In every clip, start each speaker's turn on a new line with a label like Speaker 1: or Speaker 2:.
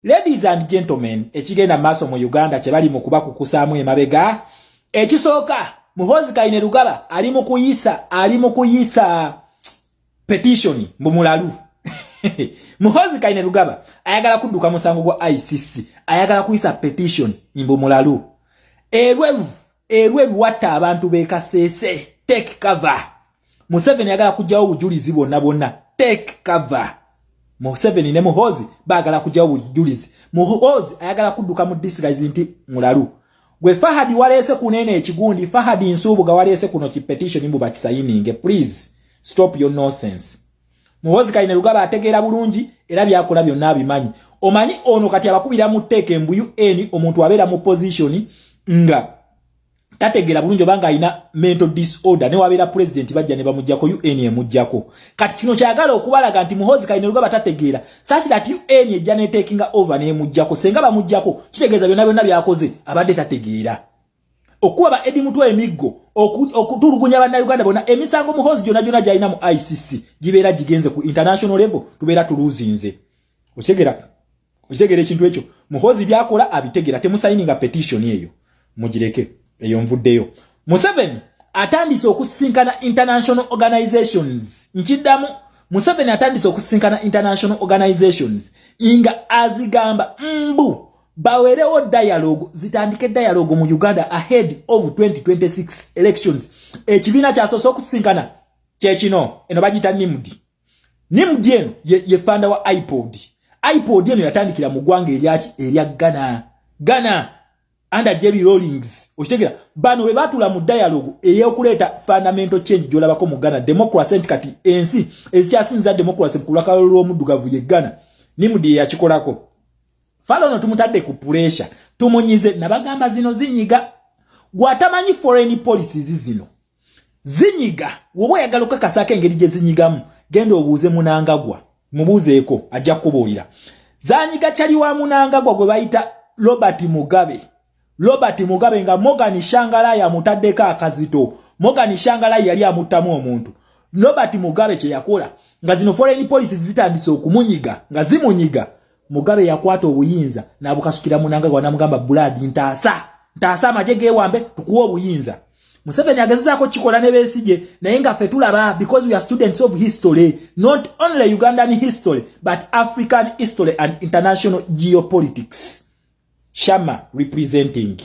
Speaker 1: Ladies and gentlemen, ekigenda maaso mu Uganda kye bali mu kuba kukusaamu emabega. Ekisooka, Muhoozi Kainerugaba ali mu kuyisa, ali mu kuyisa petition mu mulalu. Muhoozi Kainerugaba ayagala kudduka musango gwa ICC, ayagala kuyisa petition mbu mulalu. Erweru, erweru watta abantu bekaseese, take cover. museveni yagala kujjawo obujulizi bwonna bwonna take cover museveni ne muhozi bagala kujjawo obujulizi muhozi ayagala kudduka mu disigazi nti mulalu gwe fahadi waleese kunene ekigundi fahadi nsuubuga waleese kuno ki petition mbu bakisayininge please stop your nonsense muhozi kaine lugaba ategeera bulungi era byakola byonna abimanyi omanyi ono kati abakubira mu teeka embuyu eni omuntu abeera mu position nga tategera bulungi obanga alina mental disorder ne wabera president bajja ne bamujjako UN emujjako kati kino kyagala okubalaga nti muhozi kaine lugaba tategera sachi that UN ejja ne taking over ne emujjako senga bamujjako kitegeza byona byona byakoze abadde tategera okuwa ba edi mutwa emiggo okutulugunya banna Uganda bona emisango muhozi jona jona jaina mu ICC jibera jigenze ku international level tubera tuluzinze otegera okitegera ekintu ekyo muhozi byakola abitegera temusayininga petition eyo mugireke eyo nvuddeyo museveni atandise okusisinkana international organizations nkiddamu museveni atandise okusisinkana international organizations nga azigamba mbu bawerewo dialogue zitandike dialogue mu uganda ahead of 2026 elections ekibiina kyasoose okusisinkana kyekino eno bagiyita nimdi ne mudi eno ye, ye fanda wa ipod ipod eno yatandikira mu gwanga eryaki erya ghana ghana under jerry rollings okitegera bano bwe batula mu dialogue eyokuleeta fundamental change gyolabako mu ghana democracy nti kati ensi ezikyasinza democracy kulakalo lw'omuddugavu ye ghana ni mudi yakikolako fala ono tumutadde ku puresha tumunyize nabagamba zino zinyiga gwatamanyi foreign policies zino zinyiga woba oyagala okukakasaako engeri gye zinyigamu genda obuuze munangagwa mubuuzeeko ajja kukubuulira zanyiga kyali wa munangagwa gwe bayita robert mugabe robert mugabe nga morgan shangalaya amutaddeko akazito morgan shangalaya yali amuttamu omuntu robert mugabe kye yakola nga zino foreign policy zitandise okumunyiga nga zimunyiga Mugabe yakwata obuyinza nabukasukira munanga gwa namugamba blood ntaasa ntaasa amaje gewambe tukuwa obuyinza Museveni agezezaako kikola ne besije naye nga fe tulaba because we are students of history not only Ugandan history but African history and international geopolitics shama representing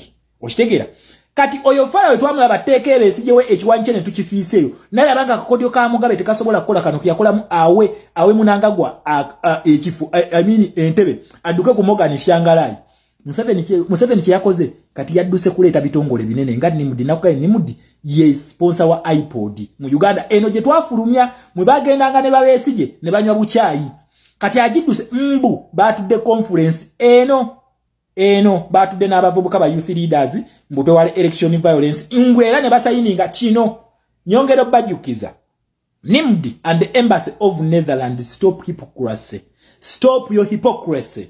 Speaker 1: okitegeera kati oyo fala wetwamula bateeka era esijewo ekiwanyi kye netukifiiseeyo naye abanga akakodyo ka mugabe tekasobola kukola kano keyakolamu awe awe munangagwa ekifo amini entebe adduke ku mogani shangalai museveni kyeyakoze kati yadduse kuleeta bitongole binene nga nimudi nakugae nimudi ye sponsa wa ipod mu uganda eno gye twafulumya mwe bagendanga ne babesije ne banywa bukyayi kati agiduse mbu batudde conference eno eno batudde n'abavubuka ba youth leaders mbu twewale election violence ngwe era ne basayininga kino nyongero bajukiza nimd and the embassy of netherlands stop hypocrisy stop your hypocrisy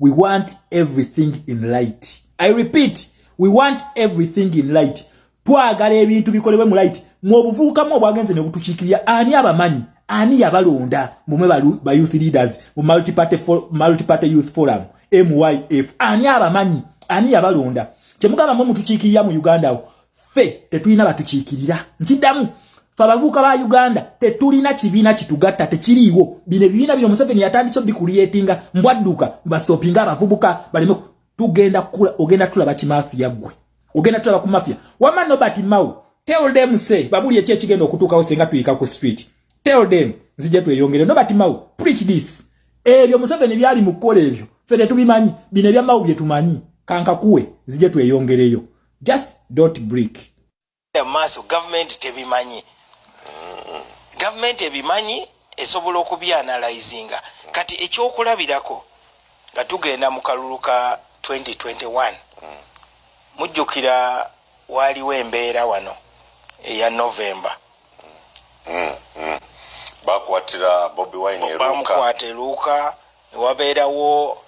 Speaker 1: we want everything in light i repeat we want everything in light twagala ebintu bikolebwe mu light mwobuvubukamu obwagenze ne butukiikirira ani abamanyi ani yabalonda mumwe ba youth leaders mu multiparty, for, multiparty youth forum myf ani abamanyi ani yabalonda kyemugamba mwe mutukiikirira mu uganda wo ffe tetulina batukiikirira nkiddamu fe abavuuka ba uganda tetulina kibiina kitugatta tekiriiwo bino ebibiina bino museveni yatandise obikuliyetinga mbwadduka bastopinga abavubuka baleme tugenda kukula ogenda tulaba kimafiya ggwe ogenda tulaba ku mafiya wama nobert mau tell them say babuli ekyo ekigenda okutuukawo singa tuyika ku street tell them nzija tweyongere nobert mau preach this ebyo museveni byali mu kukola ebyo fe tetubimanyi bino ebyamau byetumanyi kankakuwe nzija tweyongereyo just don't break maaso
Speaker 2: gavumenti tebimanyi gavumenti ebimanyi esobola okubyanalizinga kati ekyokulabirako nga tugenda mu kalulu ka 2021 mujjukira waaliwo embeera wano eya novemba
Speaker 3: bamukwata eruuka
Speaker 2: ne wabeerawo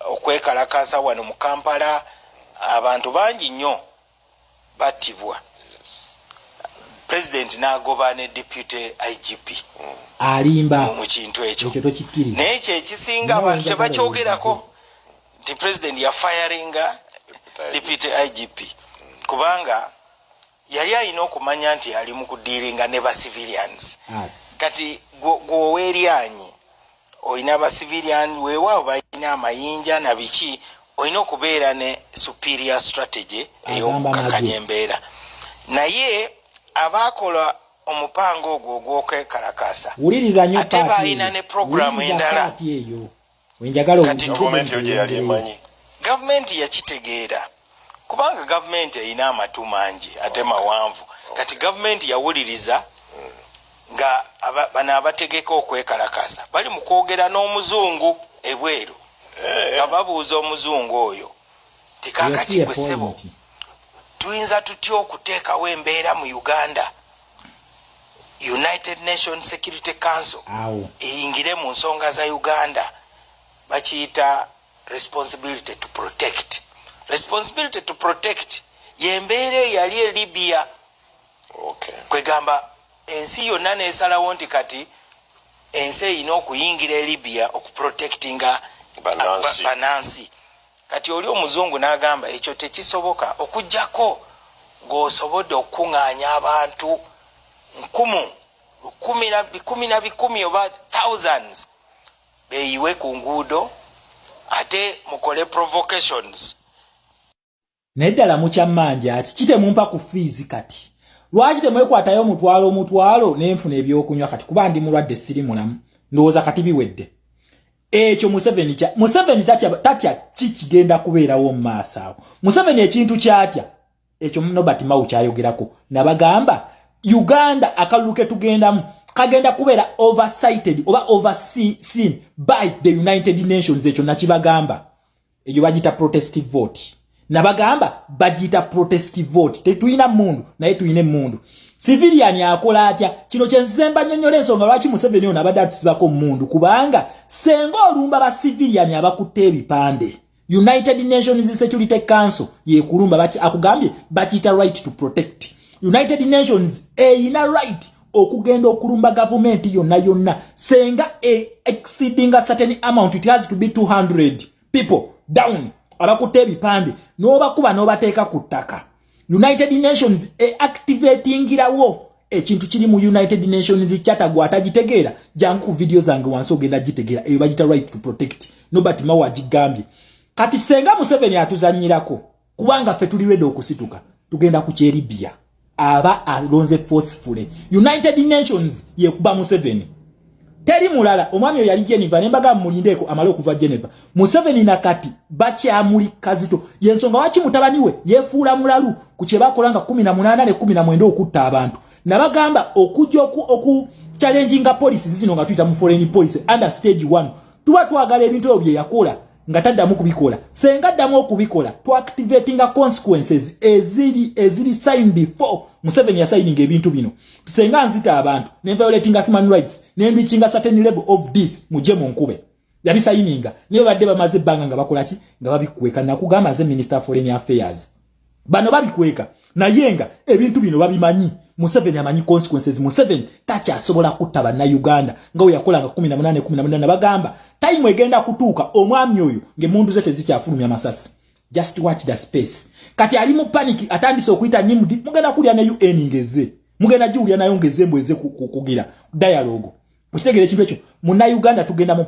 Speaker 2: okwekalakaasa wano mu Kampala abantu bangi nnyo battibwa pulezidenti n'agoba ne deputy IGP alimba
Speaker 1: mu kintu
Speaker 2: ekyo naye ekyo
Speaker 1: ekisinga
Speaker 2: abantu tebakyogerako nti pulezidenti yafayaringa deputy IGP kubanga yali alina okumanya nti ali mu kudiiringa ne ba civilians kati gweoweryanyi olina ba civilian weewaawo balina amayinja na biki olina okubeera ne superior strategy ey'okukakanya embeera naye abaakola omupango ogwo ogw'okwekalakaasa ate baalina ne programu endala kati gavumenti yo gyeyali emanyi gavumenti yakitegeera kubanga gavumenti erina amatu mangi ate mawanvu kati gavumenti yawuliriza nga bano abategeka okwekalakaasa bali mu kwogera n'omuzungu ebweru eh. nga babuuza omuzungu oyo tikakati gwe ssebo tuyinza tutya okuteekawo embeera mu uganda united nation security council eyingire mu nsonga za uganda bakiyita responsibility to protect responsibility to protect yembeera eyali e libya okay. kwegamba ensi yonna nesalawo nti kati ensi erina okuyingira e libya okuprotectinga banansi Kati oli omuzungu nagamba ekyo tekisoboka okujjako ng'osobodde okukung'anya abantu nkumu lukumi na bikumi na bikumi oba thousands beyiwe ku nguudo ate mukole provocations
Speaker 1: naye ddala mukyammanja ki kitemumpa ku fiizi kati lwaki temwekwatayo omutwalo omutwalo nenfuna ebyokunywa kati kuba ndi mulwadde siri mulamu ndowooza kati biwedde ekyo museveni kya museveni tatya tatya ki kigenda kubeerawo mu maaso awo museveni ekintu kyatya ekyo nobert mawu kyayogerako nabagamba uganda akalulu ke tugendamu kagenda kubeera oversighted oba overseen by the united nations ekyo nakibagamba ejo bajita protest vote nabagamba bajita protest vote tetuyina mundu naye tuyine mundu civilian akola atya kino kyezemba nyonyole ensonga lwaki museveni ono abadde atusibako mundu kubanga senga olumba ba civilian abakutte ebipande united nations security council yekulumba baki akugambye bakiyita right to protect united nations eyina right okugenda okulumba gavumenti yonna yonna senga e exceedinga certain amount it has to be 200 people down abakutte ebipande n'obakuba n'obateeka ku ttaka united nations eactivatingirawo ekintu kiri mu united nations charter gwatagitegeera jangu ku vidiyo zange wansi ogenda gitegeera eyo bagita right to protect nobert mawa agigambye kati senga museveni atuzanyirako kubanga ffe tuli redi okusituka tugenda ku kyeribia aba alonze forcefully united nations yekuba museveni teri mulala omwami oyo yali geneva nembaga mulindeeko amale okuva geneva museveni nakati bakyamuli kazito yensonga waki mutabani we yefuula mulalu ku kyebakola nga 18 ne 19 okutta abantu nabagamba okujja oku, oku challenginga policies zino nga tuyita mu foreign policy under stage 1 tuba twagala ebintu ebyo byeyakola nga taddamu kubikola senga addamu okubikola to activatinga consequences eziri eziri signed for museveni yasayininga ebintu bino senga nzita abantu ne violatinga human rights ne reachinga certain level of this muje mu nkube yabisayininga naye badde bamaze ebbanga nga bakola ki nga babikweka nakugamba nze minister of foreign affairs bano babikweka naye nga ebintu bino babimanyi museveni amanyi consequences museveni takyasobola kutta bannayuganda nga weyakolanga 1818 bagamba tayimu egenda kutuuka omwami oyo ngaemundu ze tezikyafulumya masasi just watch the space kati ali mu paniki atandise okuyita nimdi mugenda kulya ne un ngeze mugenda giwulya nayo ngeze mbweze kugira dialogo mukitegere ekintu ekyo munayuganda tugenda